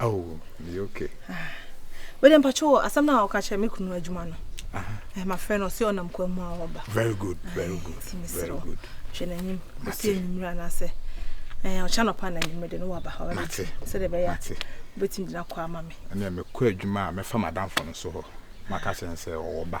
Oh, me okay. Ah. Wei de mpacho wɔ asɛm na ɔka kyerɛ me kunu adwuma no. Aha. Eh, ma frɛ no ɔsɛ ɔnam kwa mu a ɔba. Very good, very good. Very good. Hwɛ n'anim. Ɔsɛ enyimire anaasɛ eh ɔkyɛ anɔpa na enyimire de no waba. Mate. Sɛ de bɛyɛ. Mate. Wobɛtumi de no akɔ ama me. Ɛnna mekɔ adwuma a mɛfa m'adamfo no so hɔ. Maka kyerɛ no sɛ ɔwɔ ba.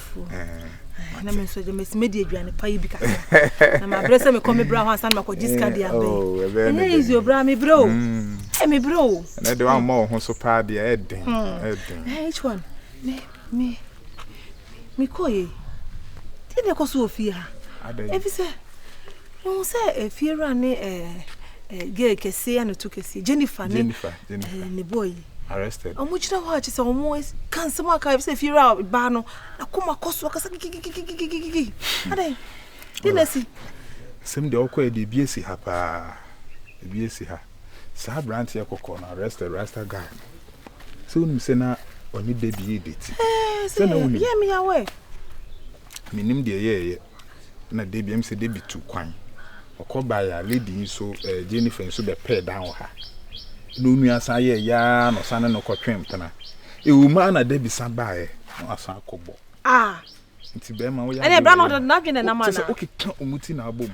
fufuo na me nso agya mɛsi mɛdi aduane pa yi bi kakra na mabrɛ sɛ mekɔ mebrɛ hɔ ansa na makɔgye sika de abɛ ɛnyɛ easy ɔbrɛ a mebrɛ o ɛ mebrɛ o ɛnɛ de woammɔ wo ho so paa deɛ ɛden ɛden each one me me mekɔ ye deɛ na ɛkɔ so wɔ fie ha ɛfi sɛ wohu sɛ ɛfie wura ne gay kɛseɛ a ne to kɛseɛ jennifer ne ne bɔɔ yi arrested. Ɔmo gyina hɔ a kyerɛ sɛ ɔmo ka nsɛm aka ebi sɛ efie wura baa no n'akoma kɔ so ɔkasa kikikikikikiki adɛn de na esi. Sɛm deɛ ɔkɔ yɛ deɛ ebi esi ha paa ebi esi ha saa aberanteɛ kɔkɔɔ no arrested rasta guy no sɛ wonim sɛ na ɔne baby yɛ deti. Ɛɛ sɛ yɛ mi yawɛ. Mennim deɛ ɛyɛeɛ na Debbie, ɛm sɛ Debbie tu kwan. Ɔkɔ baeɛ a, lady yi nso, ɛɛ, Jennifer nso bɛpɛɛ dan wɔ ha. Na onua san yɛɛ yaa na ɔsan ne no kɔtwe mpena. Ɛwɔ mu ara na Debbie san baeɛ na wasan akɔbɔ. Ah! Nti bɛrima woyɛ Ɛnna ɛbra na ɔde n'adwene nam anaa? Kyɛ sɛ wokeka wɔn ti na abom.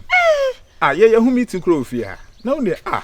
Ah, yɛyɛ ho meeting koraa wɔ fie ha. Na wo deɛ, ah!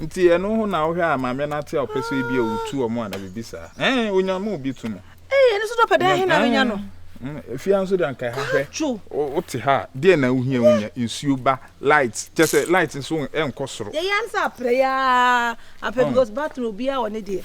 Nti ɛno ho na wohwɛ a maame no ate a ɔpɛ sɛ ebi a wotu wɔn a na biribi saa. Ɛn, onya ma obi tu mu. Ee, ɛno nso dɔpɛ dɛn he na menya no? Fie nso de anka ɛha hwɛ. Wote ha a, deɛ na wohia wonya nsuo ba, light, kyɛ sɛ light nso ɛnkɔ soro. Yɛyɛ ara ne sɛ aprɛ yi ara, aprɛ because bathroom obiara wɔ ne deɛ.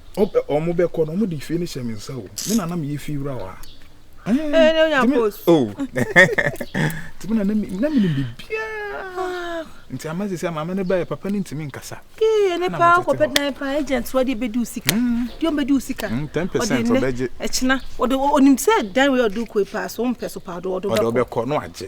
Ɔmo bɛ kɔ no ɔmo de fie no hyɛ me nsa o me na na meyɛ fie wura wa tumi na na mi na mi ni bi bia nti ama sisi ama mi ne ba yɛ papa ne ntumi nkasa. kee ne paa kɔ bɛ dan paa agent wa de bɛ di o sika di o bɛ di o sika. ten percent ɔbɛ gye ɛkyina ɔde onim sɛ dan wei ɔde kɔ yi paa so ɔmpɛ so paa ɔde ɔde ɔbɛ kɔ no agye.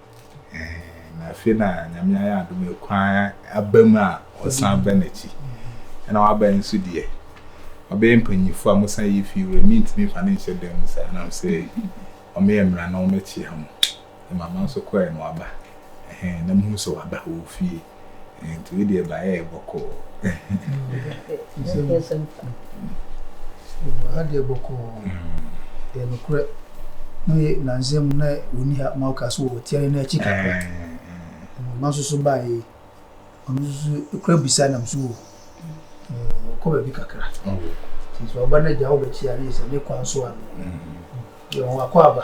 Ɛɛn, na afei na Nyame ayɛ adom ɛkwan aba mu a ɔsan bɛ n'akyi. Ɛna waba nso deɛ, ɔbɛyɛ mpanyinfoɔ a mo san yi fie wura, mentumi nfa no nhyɛ dan mu saa, nam sɛ ɔmo yɛ mmara na ɔmo kyea mo. Ɛma ma nso kɔɛ na waba, ɛhɛn, na mo hu sɛ waba, ɔwɔ fie. Nti wo deɛ ba yɛ bɔkɔɔ. Ha deɛ bɔkɔɔ. Yɛ nokorɛ. Na yɛ nansa mu na wɔni ha ma woka so wɔ tiare no akyi kakra. Ɔma nso so baa yɛ. Ɔno nso so kura bisa nam so wɔ. Ɔkɔ baabi kakra. Nti sɛ ɔba no agya wobɛkyia ne sɛ ne kwan so a. Yɛ wɔn akɔ aba.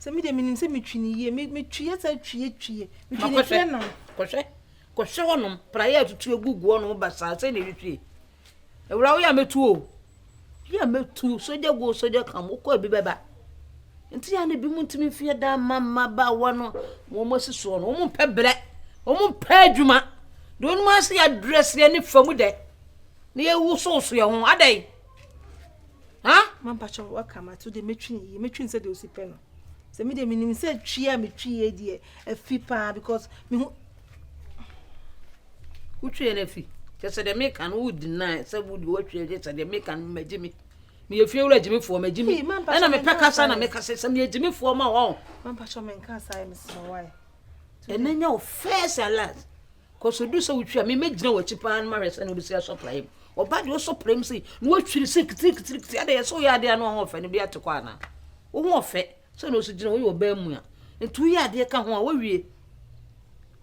Sɛ me deɛ menim sɛ metwi no yie metwi asa twi atwi metwi ne hwɛ nam. Kɔhwɛ kɔhwɛ hɔnom praeɛ atutu agugu hɔnom ba saa sɛ na ɛhwehwie awura woyɛ a mɛtu o yɛ a mɛtu sogya go sogya kam wokɔ abi bɛba nti yɛ a na bi mu ntumi mfeɛ da ma mmabaawa no wɔn asi soɔ no wɔn mpɛ brɛ wɔn mpɛ adwuma deɛ wɔn ase yɛ adrɛseɛ ne famu dɛ na yɛwosowoso yɛ ho adɛn ha mampakyɛ waka mato deɛ mɛtwi no yie mɛtwi no sɛ deɛ ɔsi pɛ no sɛ me deɛ menim sɛ twi a metwi yie deɛ afi paa because mehu wotwiɛ no afi kyɛ sɛ deɛ meka no wodi na sɛ wode woatwiɛ kyɛ sɛ deɛ meka no magye me meyɛ fie wura gyimifoɔ magye me ɛna mepɛ kasa na meka sɛ sɛ meyɛ gyimifoɔ ma wɔ mampakyɛ menka saa yɛ mesɛ wae ɛnɛ nya wo first and last Kɔ so du sɛ wotwi a me mɛgyina w'akyi paa no mahwɛ sɛne wobɛsi asɔ praeɛ mu. Ɔba deɛ ɔsɔ praeɛ mu sei na watwiri se kitirikitiri adɛ yɛ sɛ woyɛ adeɛ a na ɔho ɔfɛ no bi ate kɔ anaa? Wo ho ɔfɛ sɛ na ɔsi gyina woyɛ ɔbaa mu a nti woyɛ adeɛ ka ho a wowie.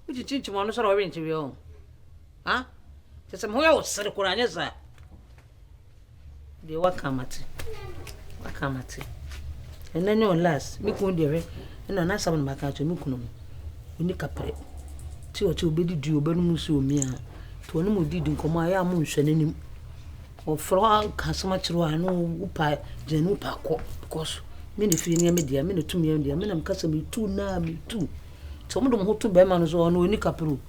Wokyinkyinkyim ɔno sɛ na ɔrenkyeweɛ ho. Ha? Kyɛ sɛ me ho yɛ wo sere koraa nyɛ saa. Deɛ waka mate. Waka mate. Ɛnɛ nyɛ ɔ last. Me kunu deɛ hwɛ. Ɛna n'asɛm na maka kyerɛ me kunu no. Ɔni kaprɛ. Ti ɔte ɔbɛdi dua ɔbɛnom nsu omia. Ti ɔne mo didi nkɔmɔ a ɛyɛ a mo nhwɛ n'anim. Ɔfrɛ hɔ ka asɛm akyerɛ hɔ a ɛno wopa gyina ne wopa kɔ because me na fie nneɛma deɛ me na tumi deɛ me na mekasa metu naa metu. Ti ɔmo de ɔmo ho to bɛrima no so ɔno ɔni kaprɛ o.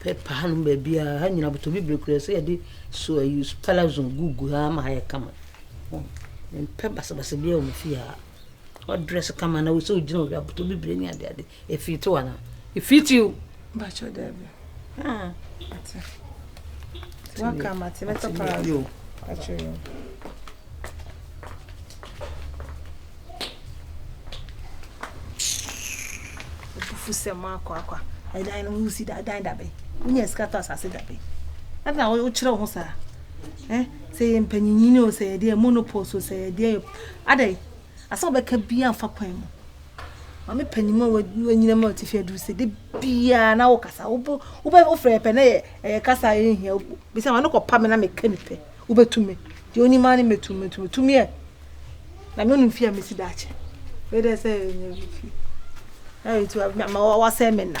Paper hanom baabiara, ha nyina botɔ bibire koraa ɛsɛ yɛde so ayi palazon gugu ha ma ha ayɛ kama. Mempɛ basabasa biara wɔ me fie ha. Ɔdrɛs kama na wosɛ wogyina wɔ hɔ abotɔ bibire ne ade ade. Ɛfiti wo anaa? Ɛfiti o. Bakyɛ daabi. Ah. Ate. Waka mate mɛtɔ palazon. Bakyɛ o. fufu sɛ mo akɔ akɔ ɛdan no ho si da dan dabe wonya sika tɔ asase dabe ɛna wokyerɛ wo ho saa eh sɛ yɛ mpanyinyin o sɛ yɛdeɛ monopol so sɛ yɛdeɛ adɛ asɛ wobɛka bia mfa kwan mu maame panyin mu a wanyina mu a ɔte fi aduru sɛ de biara na wokasa wobɛ wofrɛ pɛ na yɛ ɛyɛ kasa yɛ nhia bisa ma no kɔpa me na meka ne pɛ Wobɛtumi. Deɛ ɔnim ara ne mɛtumi, mɛtumi. Tumi ɛ? Na me ɔnim fie a mɛsi daakye. Wei dɛ sɛ ɛnyɛ bi fie. Na wei ti wasɛe me nna.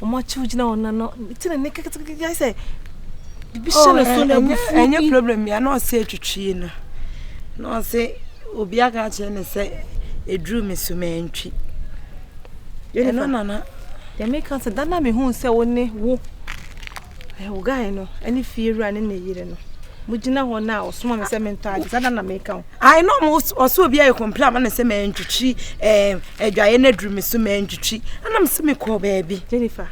wɔn akyiw gyina wɔn nan no ti na ne kekekeke yɛ sɛ bibi hyɛ ne so na ebu fu bi ɛnyɛ problem ya na ɔsɛ atwitwi no na ɔsɛ obi aka akyerɛ ne sɛ eduru me so mantwi ɛno nana yɛmeka sɛ da na mehu sɛ wo ne wo Hegai no ne fiewura ne ne yere no mugyina hɔ no a ɔsoma me sɛ mentɔ ade saa da na meka ho ae na ɔsɛ obi ayɛ kɔmpla ama me sɛ mantwitwi adwaeɛ no aduru me so mantwitwi anam sɛ mekɔɔ baabi jennifer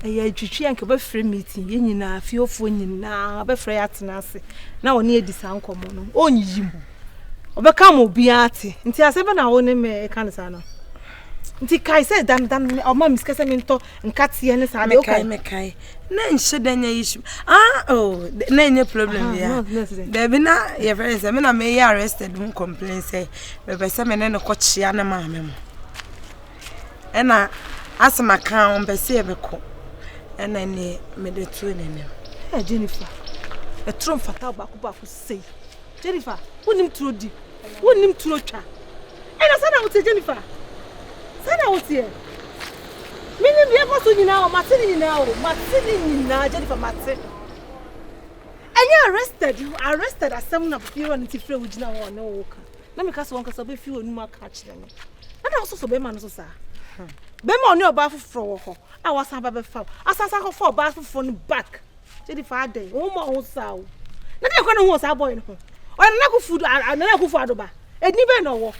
ɛyɛ atwitwi anka bɛfrɛ meeting yɛ nyinaa fiefoɔ nyinaa bɛfrɛ yɛ atena ase na ɔne adi saa nkɔmmɔ no ɔnyiyi mu ɔbɛka ma obiara te nti asɛ bɛ na wo ne me ɛka no saa no nti kae sɛ dan dan ɔma me sika sɛ mentɔ nkateɛ ne saa deɛ woka mekae mekae na nhyɛ da nya issue ah oh na ɛnyɛ problem bia daabi na yɛfrɛ ne sɛ me na meyɛ arrested ho complain sɛ mepɛ sɛ me ne no kɔkyea ne maame mo ɛna asɛ maka a ɔmpɛ sɛ yɛbɛkɔ ɛna ne mede too ne nam Jennifer ɛtoro mfata baako baako sei Jennifer wonim turo di Wonnim turo twa. Ɛna saa na woteɛ Jennifer. Saa na woteɛ. Menim deɛ ɛkɔ so nyinaa o, mate ne nyinaa o, mate ne nyinaa Jennifer mate. Ɛnyɛ arrested, arrested asɛm na fie wura no ti frɛ wo gyina hɔ ɔne wo ka. Na meka sɛ wɔnkasa wobɛfi w'anum aka akyerɛ me. Ɛna wososɔ bɛrima no so saa. Bɛrima ɔne ɔbaa foforɔ wɔ hɔ a wasan ba bɛfa wo. Asan san kɔfa ɔbaa foforɔ no back. Kyedi fa adɛn? Wo ho mmɔɔ wo ho saa o. Na dɛn kora na wohu wɔ saa bɔɔy no ho? Ɔyɛ Nana Akufo Nana Akufo Addo ba. Edin bɛn na ɔwɔ?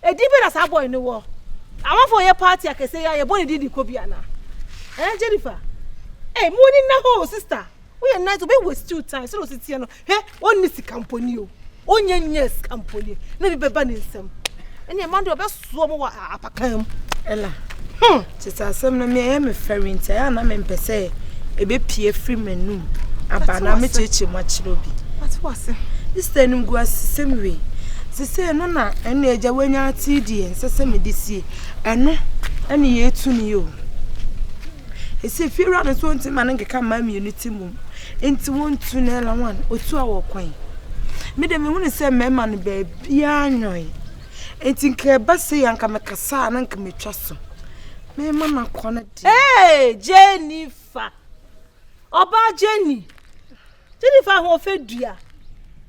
Edin bɛn na saa bɔɔy no wɔ? Amanfoɔ yɛ party akɛseɛ yi a yɛbɔ ne din de kɔ bi anaa? Ɛn Jennifer? Ei, mo ani nna hɔ o sister. Woyɛ nice obi waste time sɛdeɛ ɔsi teɛ no. Hɛ, ɔnni sika mponi o, ɔnnya nnyɛɛ sika mponi, na bi bɛba ne nsam. Ɛnna ɛma deɛ ɔbɛsoɔ mo wɔ apakan mu. Ɛla, hmm, tete asɛm no, me ɛyɛ me fɛre nti, ɛyɛ a na mempɛ sɛ ɛbɛpie firi m'anum aba na mekyerɛkyerɛ mu akyerɛ obi. Mate wo ase. Ista anim gu asesɛm wei. Sesei no na ɛnna agya wanya ate deɛ nsɛ sɛ mede sie. Ɛno ɛne yɛtu no yi o. Ɛsɛ fiewura no nso ɔnti ma no nkeka mmaa mmienu ti mu. Nti wontu na ɛla wan otu a wɔkwan me de mehunu sɛ mɛma no baabiaa nwɔn nti nka ɛba sei a nka mekasa a na nka metwa so mɛma no akɔ no de ee Jennifer ɔbaa Jenny Jennifer ahoɔfɛ dua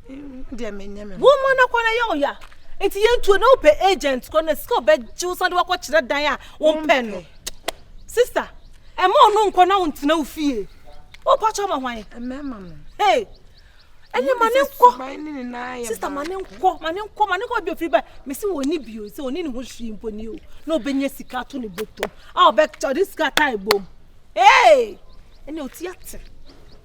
deɛ menyɛ me wo ma no akɔ no yɛ ɔya nti yɛntuo na wopɛ agent kɔ na sika ɔbɛgye wo san de wakɔkyerɛ dan a wompɛ no sister Ɛma ɔno nkɔ na ɔntena wo fie. Wopɔ kyɛ ma hwan? Mmarima no. Hey! Ɛne ma ne nkɔ. Sista ma ne nkɔ, ma ne nkɔ, ma ne nkɔ bi ofiri ba. Mesi wɔ ni bio sɛ ɔne ne ho hwii mpo ni o. Na ɔbɛnya sika ato ne bɔtɔ. A ɔbɛkyɛ ɔde sika taa ebom. Hey! Ɛne ɔti ate.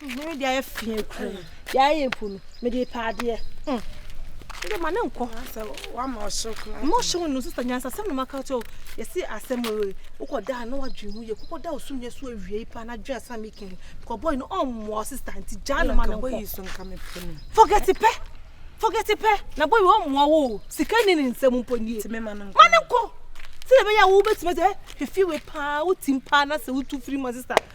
Mede ayɛ fie kuro no, de ayɛ mpo no, mede pɛ adeɛ. Mede ma ne nkɔ. Sɛ wama ɔhyew kura. Mo hyew no sista nyansa sɛm na maka kyɛw. Yɛsi asɛm oye. Wokɔ da na wadwen ho yɛ. Kokɔ da osum yɛ so awie yi pa na dwen asɛm mi kin. Kɔ boy no on mo sista nti gya no ma no nkɔ. Forget pɛ. Forget pɛ. Na boy on mo wo. Sika ni ne nsɛm mpo nie. Ti me ma no nkɔ. Ma no nkɔ. Sɛ bɛyɛ wo bɛtumi sɛ hwɛ fie we paa wotim paa na sɛ wotu firi ma sista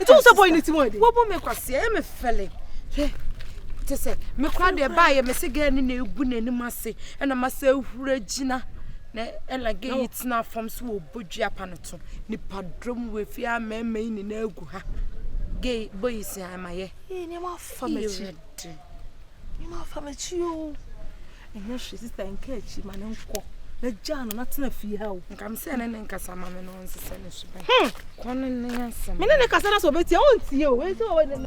nti wo sɛ boy ne ti mu ade wobu me kwase ɛyɛ me fɛle hwɛ te sɛ me kora deɛ baayɛ me se gɛɛ ne na egu n'anim ase ɛna ma sɛ ehura gyina na ɛna gɛɛ yi tena fam so wɔ bodua pa no to nipa dɔm wɔ efi a mɛɛmɛ yi nyinaa egu ha gɛɛ boy si amayɛ. Ɛyɛ nneɛma afa m'akyi. Mma fa m'akyi o. Ɛnyɛ hwee sista nka akyi ma ne nkɔ. Mɛgyaa no na tena fie ha o. Nka me sɛ ne ne nkasa ma me na ɔnsesɛ ne so bɛn. Hmm. Kɔ ne ne asɛm. Me ne ne kasa na sɛ ɔbɛtie a ɔntie o. Ɛsɛ ɔwɔ ne ne.